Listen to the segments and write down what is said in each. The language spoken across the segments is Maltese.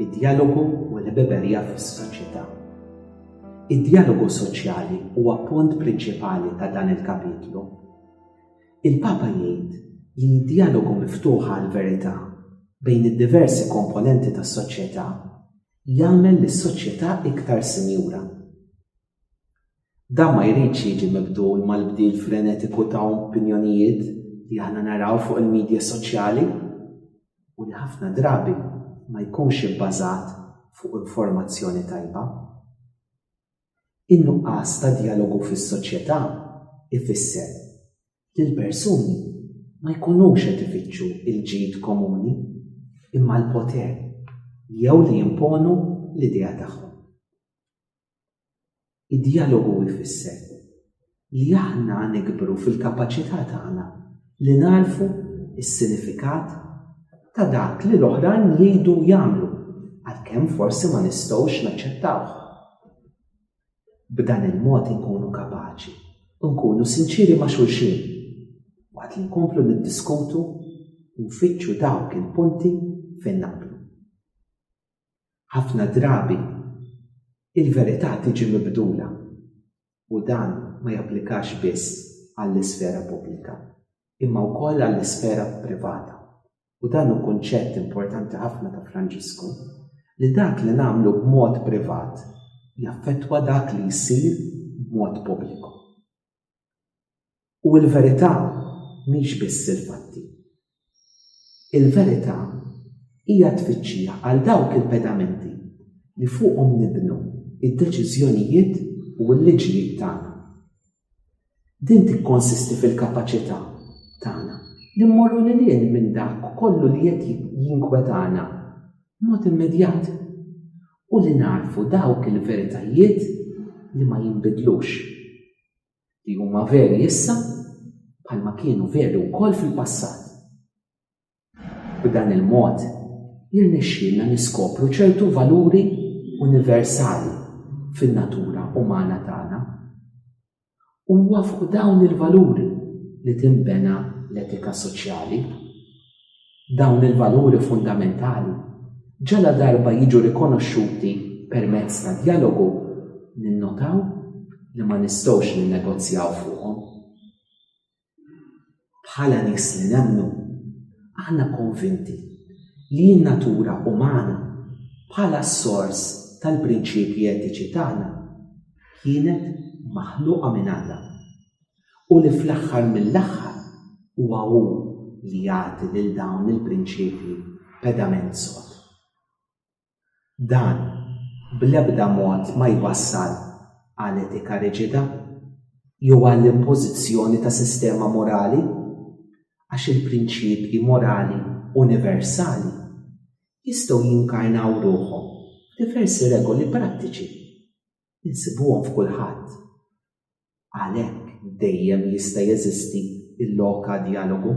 Id-djalogu u l-ħbiberija fis-soċjetà. Id-djalogu soċjali huwa punt prinċipali ta' dan il-kapitlu. Il-Papa jgħid li d-djalogu miftuħ għall-verità bejn id-diversi komponenti tas-soċjetà jagħmel lis-soċjetà iktar sinjura. Dan ma jridx jiġi mibdul mal-bdil frenetiku ta' opinjonijiet li aħna naraw fuq il-midja soċjali u li ħafna drabi ma jkunx ibbażat fuq informazzjoni tajba. In-nuqqas ta' djalogu fis-soċjetà ifisser li l-persuni ma jkunux qed ifittxu l-ġid komuni imma l-poter jew li jimponu l-idea tagħhom. Id-djalogu jfisser li aħna nikbru fil-kapaċità tagħna li nagħrfu s-sinifikat ta' dak li l-oħrajn jgħidu u jagħmlu, għalkemm forsi ma nistgħux naċċettawh. B'dan il-mod inkunu kapaċi nkunu sinċiri ma' xulxin waqt li nkomplu niddiskutu u nfittxu dawk il-punti fejn naqblu. Ħafna drabi il-verità tiġi mibdula u dan ma japplikax biss għall-isfera pubblika, imma wkoll għall-isfera privata. U dan hu kunċett importanti ħafna ta' Franġisku, li dak li nagħmlu b'mod privat jaffettwa dak li jsir b'mod pubbliku. U l-verità mhix biss il-fatti. Il-verità hija tfittxija għal dawk il-pedamenti li fuqhom nibnu id-deċiżjonijiet u l-liġijiet tagħna. Din tikkonsisti fil-kapaċità tagħna li mmorru lil hinn minn dak kollu li qed jinkwetana mod immedjat u li nagħrfu dawk il-veritajiet li ma jinbidlux, li huma veri issa bħalma kienu veri wkoll fil-passat. B'dan il-mod, jirnexxielna niskopru ċertu valuri universali fin-natura umana tagħna. Huwa fuq dawn il-valuri li tinbena l-etika soċjali. Dawn il-valuri fundamentali ġala darba jiġu rikonoxxuti permezz ta' dialogu ninnotaw li ma nistgħux ninnegozjaw fuqhom. Bħala nies li nemmnu, aħna konvinti li n-natura umana bħala s-sors tal-prinċipji etiċi tagħna kienet maħluqa minn Alla u li fl-aħħar mill-aħħar huwa hu li jagħti lil dawn il-prinċipji pedament sod. Dan bl-ebda mod ma jwassal għal etika riġida jew għall-impożizzjoni ta' sistema morali, għax il-prinċipji morali universali jistgħu jinkarnaw ruħhom f'diversi regoli prattiċi. Insibuhom f'kulħadd. Għalhekk dejjem jista' jeżisti l-lok għal djalogu.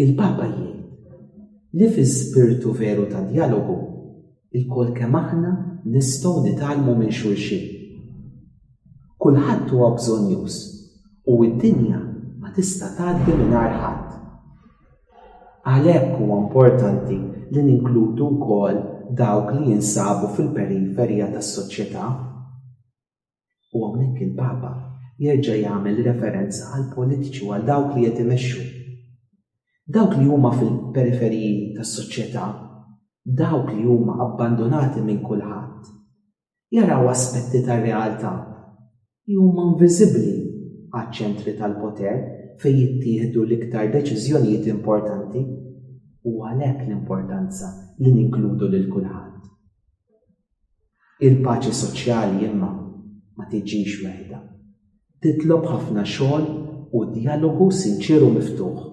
Il-Papa jgħid li fi spirtu veru ta' djalogu il-kol kemm aħna nistgħu nitgħallmu minn xulxin. Kulħadd huwa bżonnjuż u d-dinja ma tista' tgħaddi mingħajr ħadd. Għalhekk huwa importanti li ninkludu wkoll dawk li jinsabu fil-periferija tas-soċjetà. U hawnhekk il-Papa jerġa' jagħmel referenza għall-politiċi u għal dawk li qed imexxu. Dawk li huma fil-periferiji tas-soċjetà, dawk li huma abbandunati minn kulħadd, jaraw aspetti tar-realtà li huma inviżibbli għaċ-ċentri tal-poter fejn jittieħdu l-iktar deċiżjonijiet importanti u għalhekk l-importanza li ninkludu lil kulħadd. Il-paċi soċjali imma ma tiġix weħda. Titlob ħafna xogħol u djalogu sinċieru miftuħ.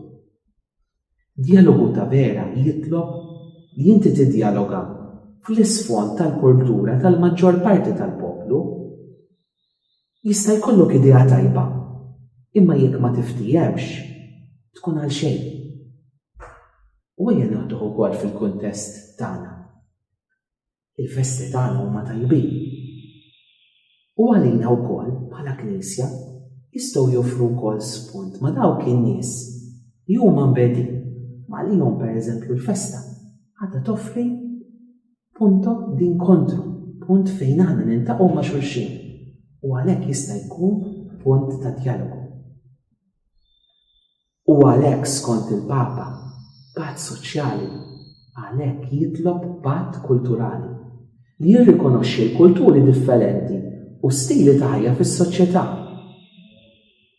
Djalogu ta' vera jitlob li inti tiddjaloga fl-isfond tal-kultura tal-maġġor parti tal-poplu. Jista' jkollok idea tajba, imma jekk ma tiftiehemx, tkun għal xejn. U ejja nieħduh ukoll fil-kuntest tagħna. Il-festi tagħna huma tajbin. U għalina wkoll bħala Knisja jistgħu joffru wkoll spunt ma' dawk in-nies li huma mbegħdin ma' għalihom pereżempju l-festa għadha toffri punto d'inkontru, punt fejn aħna nintaqgħu ma' xulxin u għalhekk jista' jkun punt ta' djalogu. U għalhekk skont il-Papa, patt soċjali għalhekk jitlob patt kulturali, li jirrikonoxxi l-kulturi differenti u stili ta' ħajja fis-soċjetà.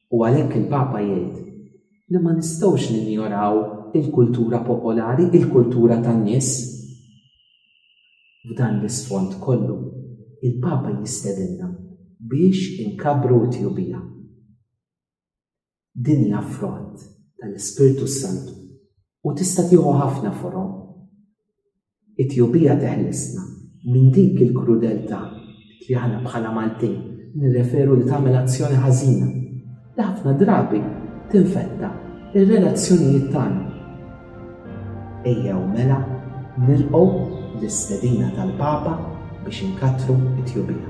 U għalhekk il-Papa jgħid li ma nistgħux ninjoraw il-kultura popolari, il-kultura tan-nies. F'dan l-isfond kollu, il-Papa jistedinna biex inkabbru t-tjubija. Din hija frott tal-Ispirtu s-Santu u tista' tieħu ħafna forom. It-tjubija teħlisna minn dik il-krudeltà li aħna bħala Maltin nirreferu li tagħmel azzjoni ħażina li ħafna drabi tinfetta ir-relazzjonijiet tagħna. Ejja u mela nilqgħu l-istedina tal-Papa biex inkattru t-tjubija.